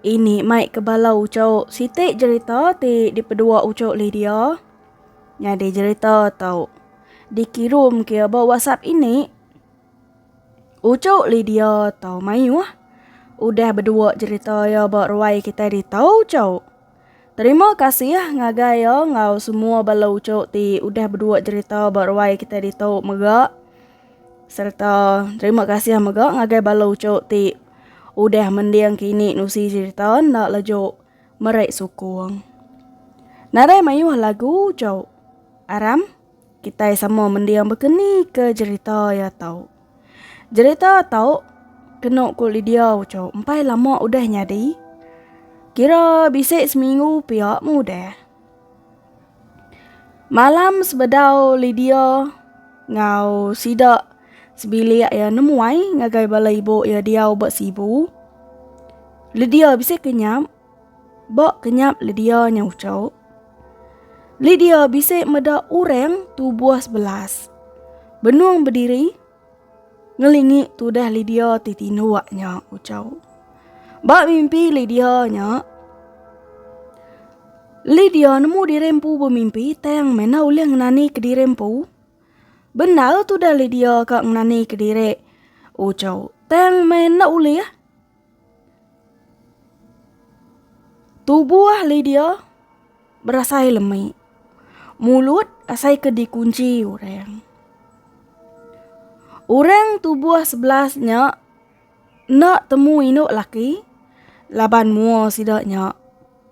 Ini mai ke bala ucok siti jerita ti dipedua ucok Lydia. Nyadi jerita tu dikirum ke ba WhatsApp ini. Ucok Lydia tu mayuh. Udah bedua jerita ya ba ruai kitai ditu ucok. Terima kasih ngagai iya enggau semua bala uchu ti udah bedua jerita ba ruai kita ditu mega serta terima kasih mega ngagai bala uchu ti udah mending ke ini nusi jerita enda laju meri sukung. Nadai mayuh lagu uchu. Aram kitai sama mending bekeni ke jerita iya tu. Jerita tau kenu ku Lydia uchu empai lama udah nyadi. Kira bisi seminggu pia meh udah. Malam sebedau Lydia enggau sida sebilik iya nemuai ngagai bala ibu iya diau ba Sibu. Lydia bisi kenyap. Ba kenyap Lydia nya ucau. Lydia bisi meda orang tubuh sebelas. Benung bediri ngelingi tudah Lydia ti tindu wak nya ucau. Ba mimpi Lydia nya Lydia nemu diri empu bemimpi tang mena ulih ngenani kediri empu. Bendar tudah Lydia ka ngenani kediri ucau. Tang mena ulih. Tubuh Lydia berasai lemi. Mulut asai ke dikunci orang. Orang tubuh sebelas nya enda temu indu laki laban mua sida nya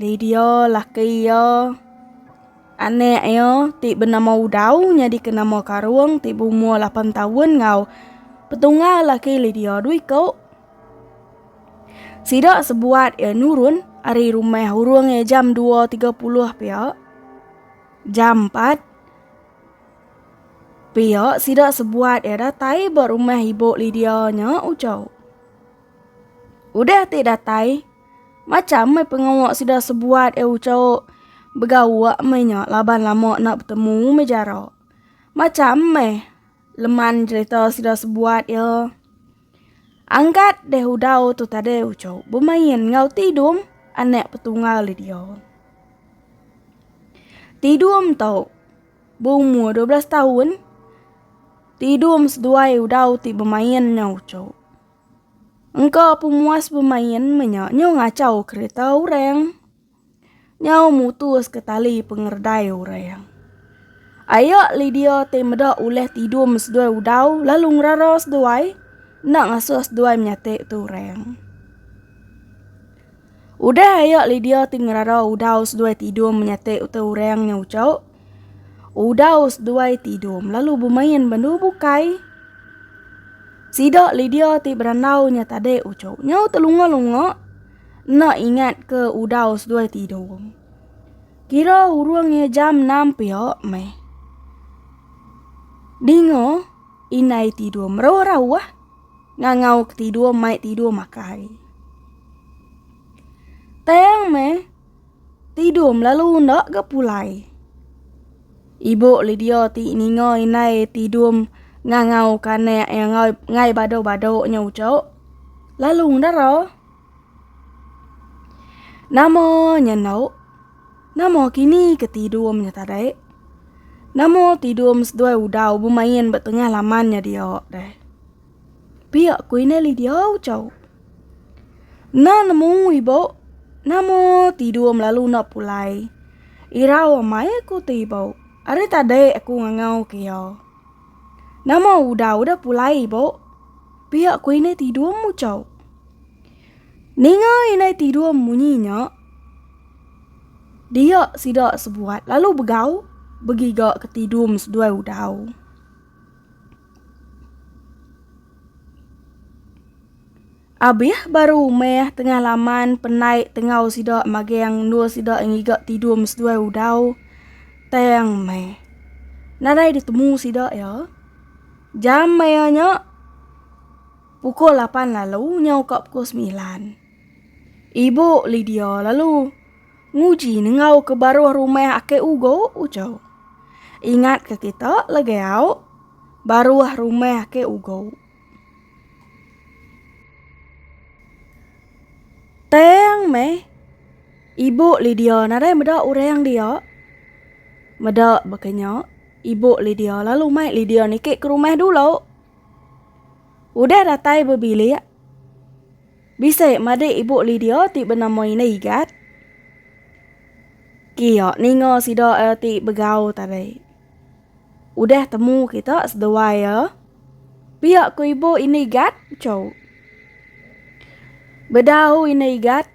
Lydia, laki iya, anak iya ti benama Udau nyadika nama Karung ti beumur lapan taun enggau Petunggal laki Lydia dua iku. Sida sebuat iya nurun ari rumah urung iya jam dua tiga puluh pia. Jam empat pia sida sebuat iya datai ba rumah ibu Lydia nya ujau. Udah ti datai. Macham meh pengawa sida sebuat e uchauk begawa meh nya laban lama enda betemu meh jara. Macham meh leman jerita sida sebuat e. Angkat deh udau tu tadi uchauk bemain enggau Tidum anak petunggal e dia. Tidum tu beumur dua belas taun, Tidum seduai udau ti bemain enggau uchauk. Engka pemuas bemain menya nyau ngachau kereta orang. Nyau mutus ke tali pengeredai orang. Aya Lydia ti meda ulih tidum seduai udau lalu ngerara seduai enda ngasuh seduai menyati tu orang. Udah aya Lydia ti ngerara udau seduai tidum menyati tu orang nyau ucau Udah seduai ti idum lalu bemain ba endu bukai. Sida Lydia ti berandau nya tadi uchu nyau telunga-lunga enda ingat ke udah seduai ti idum. Kira urung iya jam enam pia meh. Dinga indai ti idum rauh-rauh ngangau ke ti idum mai ti idum akai. Tang meh. Tidum lalu enda ga pulai. Ibu Lydia ti ninga indai tidum ngangau kanak iya ngai ngai badu badu nya ujok lalu ngedara. Nama nya eno nama kini ke tidum nya tadi nama tidum seduai udau bemain ba tengah laman nya diak deh. Pia ku inai li diau cau. Na nemu ibo, namo tidur melalu na pulai. Irau amai aku ti ibo, ari tadi aku ngangau ke iya. Namo udah udah pulai ibo, pia ku inai tidur mu cau. Ninga inai tidur munyi nya, dia sida sebuat lalu begau begiga ke tidur seduai udau. Abih baru meh tengah laman penai tengau sida magang endur sida ngiga tidum seduai udau. Tang meh. Nadai ditemu sida iya. Jam maya nya pukul lapan lalu nyau ka pukul semilan. Ibu Lydia lalu. Nguji nengau ke baruh rumah ake ugo ujau. Ingat ke kita legeau baruh rumah ake ugo. Tang meh ibu Lidia nadai meda orang dia meda bekenya ibu Lidia lalu mai Lidia niki ke rumah dulu. Udah datai bebilik. Bisi madik ibu Lidia ti benama Ina Igat. Kia ninga sida eh ti begau tadi. Udah temu kita sedua ia. Eh. Pia ku ibu Ina Igat, Chou. Bedau Ina Igat,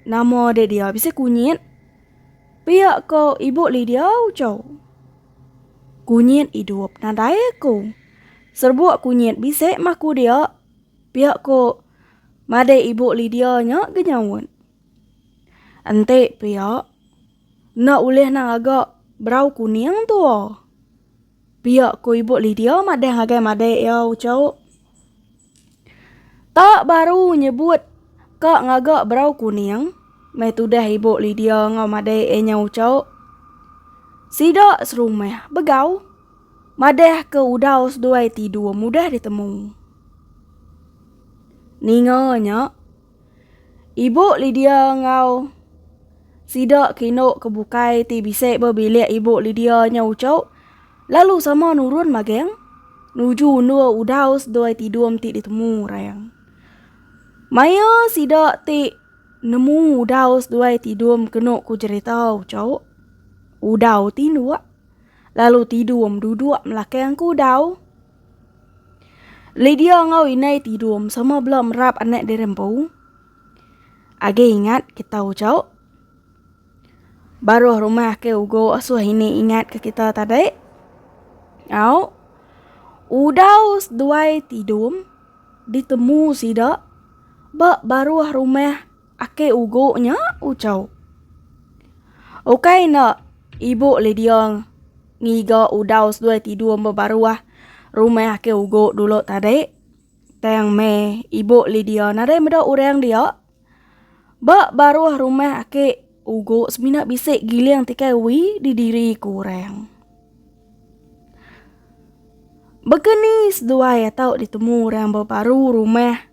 nama dek dia bisi kunyit. Pia ku ibu Lidia, Chou. Kunyit idup nadai aku. Serbuk kunyit bisi mah ku dia. Pia ko madai ibu Lydia nya ke nyaut. Enti pia, enda ulih nang aga berau kuning tua. Pia ko ibu Lydia madah ngagai madai iya uchauk. Tak baru nyebut ka ngaga berau kuning, meh tudah ibu Lydia enggau madai iya nya uchauk. Sida serumah begau madah ke udau seduai tidur mudah ditemu. Ninga nya, ibu Lidia enggau sida ke indu ke bukai ti bisi ba bilik ibu Lidia nya uchu, lalu sama nurun mageng nuju endur udau seduai tidum ti ditemu Rayang. Maya sida ti nemu udau seduai tidum kenu ku jerita uchu, udau tinduk lalu tidum duduk melakang ke udau. Lydia enggau indai ti idum sama bela merap anak diri empu. Agi ingat kita ucau. Baruh rumah ke ugo asuh ini ingat ke kita tadi. Au. Udau seduai ti idum ditemu sida ba baruh rumah. Ake ugu nya ucau. Ukai enda, ibu Lydia ngiga udau seduai tidur emba baruah rumah ake ugu dulu tadi. Tang meh ibu Lydia nadai meda orang dia. Ba baruah rumah ake ugu semina bisi giling ti kai uwi di diri ku orang. Baka ni seduai atau ditemu orang ba baru rumah.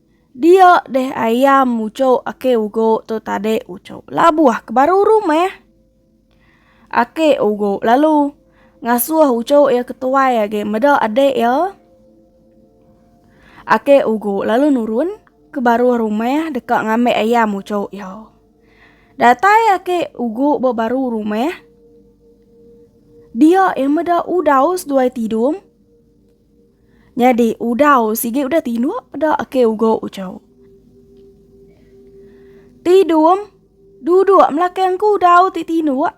Dia deh ayam mucuk ake ugok tu tadi ucuk labuh ke baru rumah. Ake ugok lalu ngasuh ucuk ya ketuai agi meda adik ya. Ake ugok lalu nurun ke baruh rumah deka ngambil ayam ucuk ya. Datai ake ugok ba baruh rumah. Dia ya meda udaus duai tidung. Nyadi udau sigi udah tinuk da ake ugo ucau. Tidum duduk melakang ku udau ti tinuk.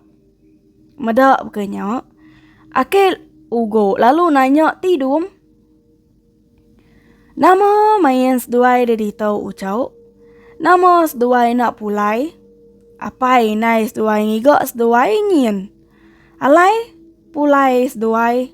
Meda bukannya ake ugo lalu nanya tidum. Nama main seduai da ditu ucau. Nama seduai nak pulai. Apai indai seduai ngiga seduai nyin. Alai pulai seduai.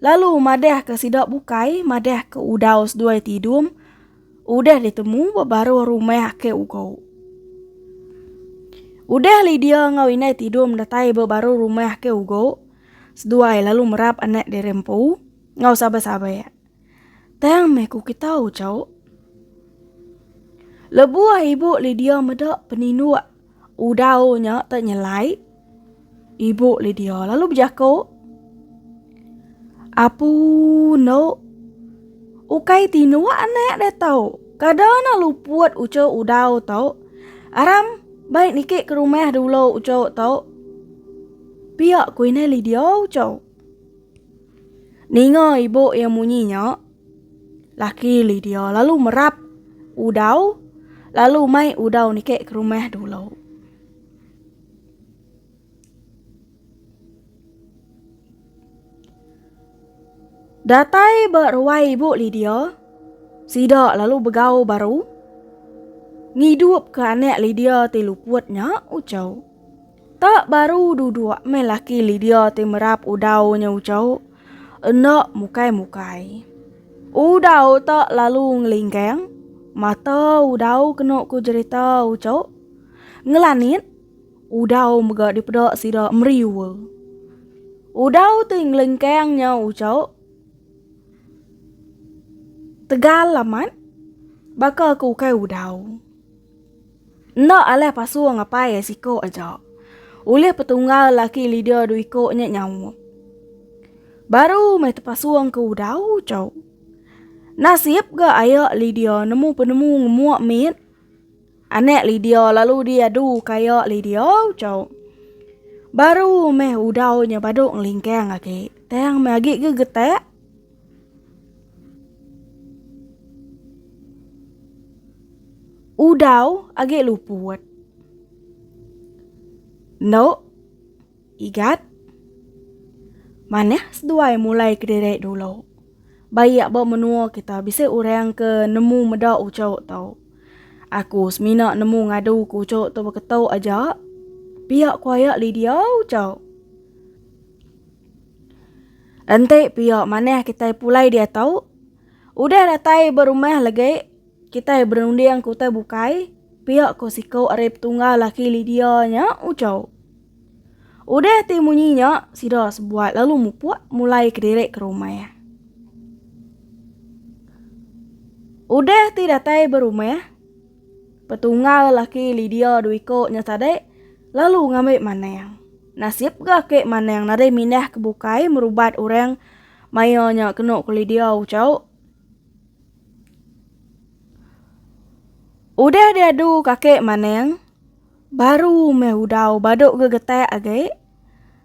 Lalu madahka sida bukai madahka udau seduai tidum udah ditemu ba baruh rumah Ake Ugo. Udah Lydia ngau inai tidum datai ba baruh rumah Ake Ugo, seduai lalu merap anak diri empu ngau sabar-sabar. Tang meh ku kitau, Cau. Lebuh ibu Lydia meda peninduk Udau nya tak nyelai ibu Lydia lalu berjaku, Apu no, ukai tinua anak dia tau. Kada na luput ucu udau tau. Aram, baik niki ke rumah dulu ucu tau. Pia kuinai Lydia ucu. Ninga ibu yang munyi nya, Laki Lydia lalu merap udau lalu mai udau niki ke rumah dulu. Datai ba ruai ibu Lydia, sida lalu begau baru ngidupka anak Lydia ti luput nya uchu. Ka baru duduk meh laki Lydia ti merap udau nya uchu. Enda mukai-mukai. Udau tu lalu ngelingkang. Mata udau kena ku jerita uchu. Ngelanit, udau mega dipeda sida meriwa. Udau ti ngelingkang nya uchu. Tegal amat. Baka ke ukai udau. Enda alah pasung apai ai siko aja. Ulih petunggal laki Lydia du iko nya nyaup. Baru mai tepasung ke udau cau. Nasib ga ayak Lydia nemu penemu ngemuk mit. Anak Lydia lalu di adu kaya Lydia cau. Baru meh udau nya badu ngelingkang agi. Tang meh agi ke getak. Udau agi luput. Endo igat manah seduai mulai kediri dulu. Ba iya ba menua kita bisi orang ke nemu meda uchu tu. Aku semina nemu ngadu ke uchu tu beketu aja pia ku aya Lydia uchu. Enti pia manah kitai pulai diatu, udah datai ba rumah legi kitai berunding ke utai bukai, pia ko siko ari petungga laki Lydia nya uchau. Udah ti munyi nya sida sebuat lalu mupuk mulai kediri ke rumah. Udah ti datai ba rumah. Petunggal laki Lydia dua iko nya tadi lalu ngambi Manang. Nasib ga ake Manang nadai mindah ke bukai merubat orang maya nya kenu ku Lydia uchauk. Udah diadu kake Manang baru meh udau badu gegetak agi.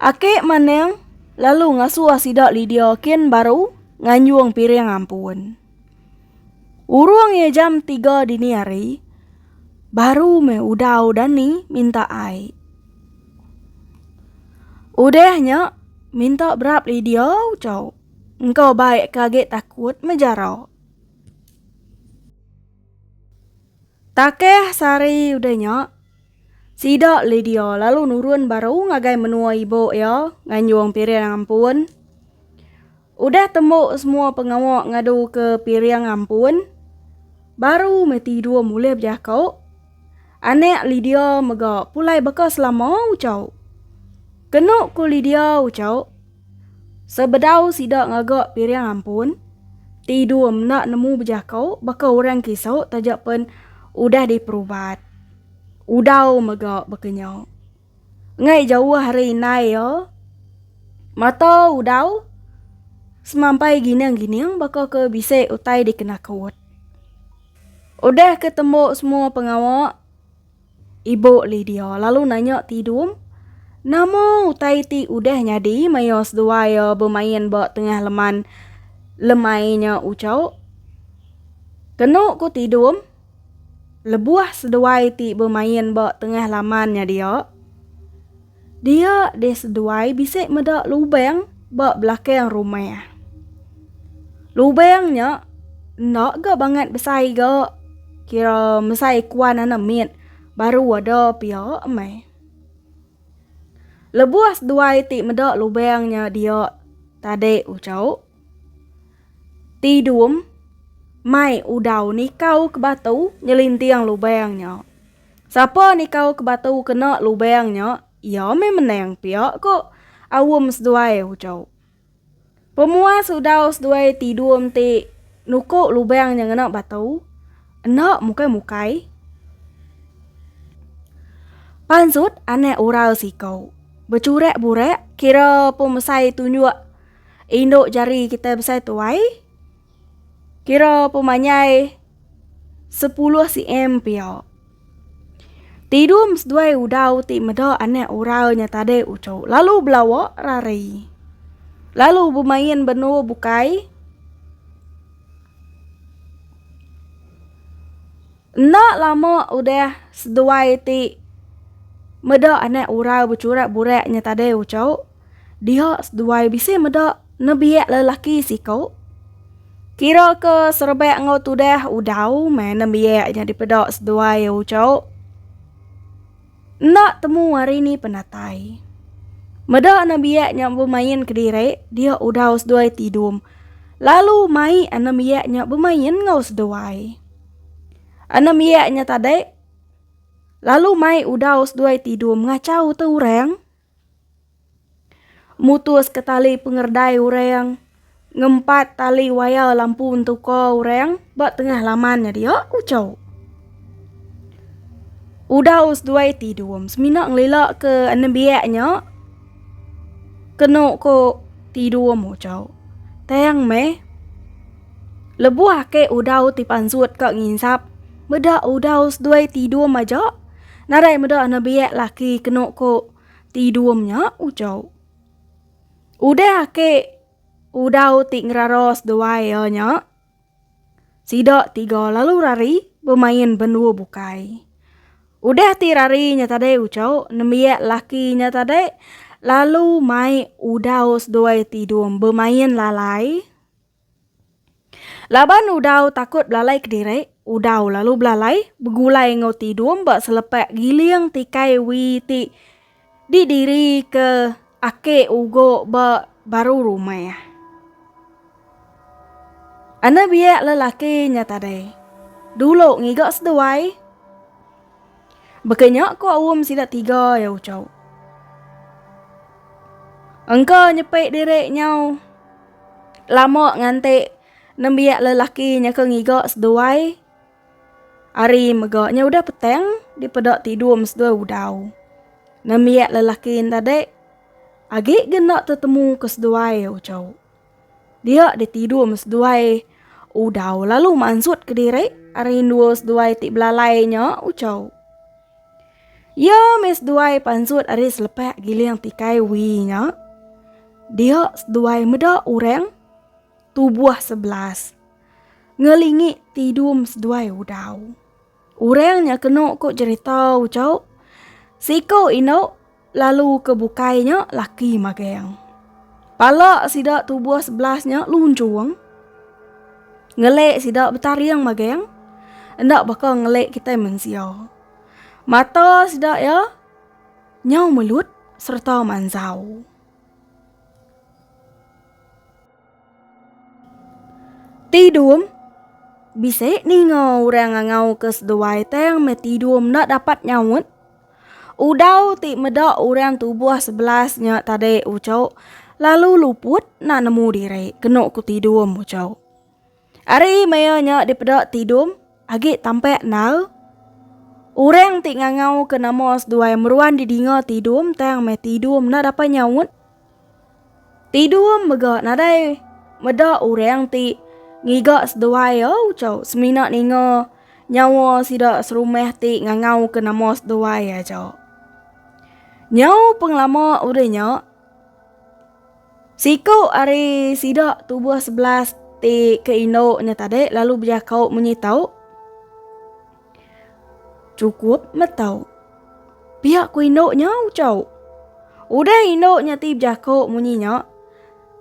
Ake Maneng lalu ngasuh sida Lydia kin baru nganjung piring ampun. Urung ye jam tiga dini hari, baru me udau Dani minta ai. Udah nya, minta berap Lydia ucau. Engkau baik ke agi takut mejara. Takeh sehari udah nya, Sida Lydia lalu nurun baru ngagai menua ibu iya nganjung piring ampun. Udah tembu semua pengawa ngadu ke piring ampun, baru meh tidur mulih bejaka. Anak Lydia mega pulai baka selama ucau. Kenu ku Lydia ucau, sebedau sida ngaga piring ampun, tidur menda nemu bejaka baka orang kisu taja pen udah diperubat. Udau mega baka nya. Ngai jauh ari indai iya, mata Udau semampai gining-gining baka ke bisi utai dikena kewut. Udah ke tembu semua pengawa, ibu Lydia lalu nanya Tidum, Nama utai ti udah nyadi maya seduai iya bemain ba tengah leman lemai nya uchau? Kenu ku Tidum, Lebuh seduai ti bemain ba tengah laman nya dia, dia deh seduai bisi meda lubang ba belakang rumah. Lubang nya enda ga bangat besai ga kira mesai kuan anak mit baru ada pia meh. Lebuh seduai ti meda lubang nya dia tadi uchu. Ti Dum mai udau nikau ke batu nyelinting lubang nya. Sapa nikau ke batu kena lubang nya, iya meh menang pia ko Aum seduai uco. Pemuas udau seduai Ti Dum ti nuko lubang nya ngena batu, enda mukai-mukai. Pansut anak ural siko. Becurak-burak kira pemesai tunjuk. Indu jari kitai besai tuai. Kira pemanyai sepuluh cm pia. Tidum seduai udau ti meda anak ural nya tadi ucu. Lalu belawa rari. Lalu bemain benua bukai. Enda lama udah seduai ti meda anak urau becurak burak nya tadai uco, dia seduai bisi meda nebiak lelaki siko. Kira ke serebak enggau tudah udau meh nembiak nya dipeda seduai uco. Enda temu hari ni penatai. Meda nembiak nya bemain kediri, dia udau seduai tidum. Lalu mai anembiak nya bemain enggau seduai. Enam iya nya tadi lalu mai udau seduai tidur mengachau te orang mutus ke tali pengerdai orang ngempat tali waya lampu entuka orang ba tengah laman nya dia ku chau. Udau seduai tidur semina ngelila ke nembiak nya kenu ko tidur mo chau. Tang meh. Lebuh ake udau ti pansut ka nginsap, meda udau seduai ti idum aja, nadai meda nebiak laki kenu ko ti idum nya ujau. Udah ake udau ti ngerara seduai iya nya, sida tiga lalu rari bemain bendu bukai. Udah ti rari nya tadi ujau, nembiak laki nya tadi lalu mai udau seduai ti idum bemain lalai. Laban udau takut belalai kediri, udau lalu belalai begulai enggau tidung ba selepak giling tikai wi ti didirika ake ugo ba baru rumah. Anebiak lelaki nya tadi dulu ngiga seduai. Baka nya ko aum sida tiga ya ucau. Engka nyepe diri nyau lama nganti nembiak lelaki nya ke ngiga seduai ari mega nya udah petang dipeda tidum seduai udau. Nembiak lelaki enda dek agi ke enda tetemu ke seduai ya ucau. Dia di tidur me seduai udau lalu mansut ke diri ari endua seduai ti belalai nya uco. Ia me seduai pansut ari selepak giling tikai wi nya. Dia seduai meda orang tubuh sebelas ngelingi tidur me seduai udau. Urang nya kenu ku jerita ucok, siku indu lalu ke bukai nya laki magang. Pala sida tubuh sebelas nya lunjung. Ngelek sida betaring magang. Enda baka ngelek kitai mensia. Mata sida ya nyau melut serta manzau. Tidum, Bisi ninga orang ngangauka seduai tang meh tidum enda dapat nyaut. Udau ti meda orang tubuh sebelas nya tadi uchu lalu luput enda nemu diri kenu ku tidum uchu. Ari maya nya dipeda Tidum agi tampak endar. Orang ti ngangau ke nama seduai meruan didinga Tidum tang meh Tidum enda dapai nyaut. Tidum mega nadai meda orang ti ngiga seduai ya ucau semina ninga nyawa sida serumah ti ngangau ke nama seduai aja. Nyau pengelama udah nya. Siku ari sida tubuh sebelas ti ke indu nya tadi lalu bejako munyi tau, Chukup meh tau. Pia ku indu nya uchau. Udah indu nya ti bejako munyi nya,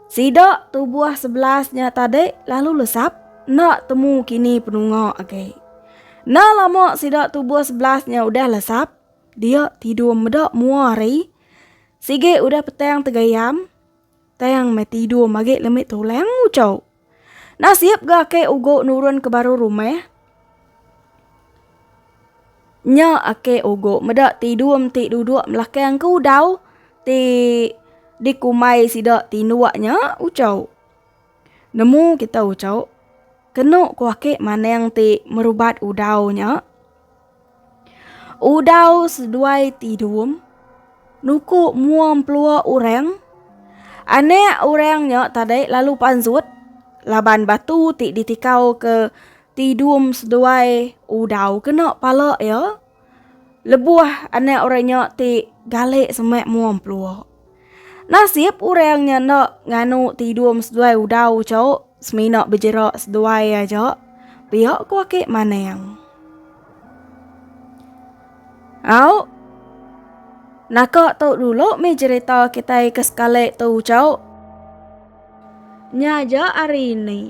sida tubuh sebelas nya tadi lalu lesap enda temu kini penunga agi. Enda lama sida tubuh sebelas nya udah lesap, dia tidur meda mua hari. Sigi udah petang tegayam, tang meh tidur magi lemi tulang ucau. Nasib ga ake ugo nurun ke baru rumah. Nya ake ugo meda tidur meti duduk belakang ke udau ti dikumbai sida tinduk nya ucau. Nemu kita ucok kenu ku ake maneng ti merubat udau nya. Udau seduai ti dum nuku mua empelua orang. Anak orang nya tadi lalu panjut laban batu ti ditikau ke ti dum seduai udau kena pala iya. Lebuh anak orang nya ti galek semak mua empelua. Nasib orang nya enda nganu tidum seduai udau chau semina bejera seduai aja pia ku aki manang. Au. Naka tu dulu mi cerita kitai ke sekali tu chau. Nya aja hari ini.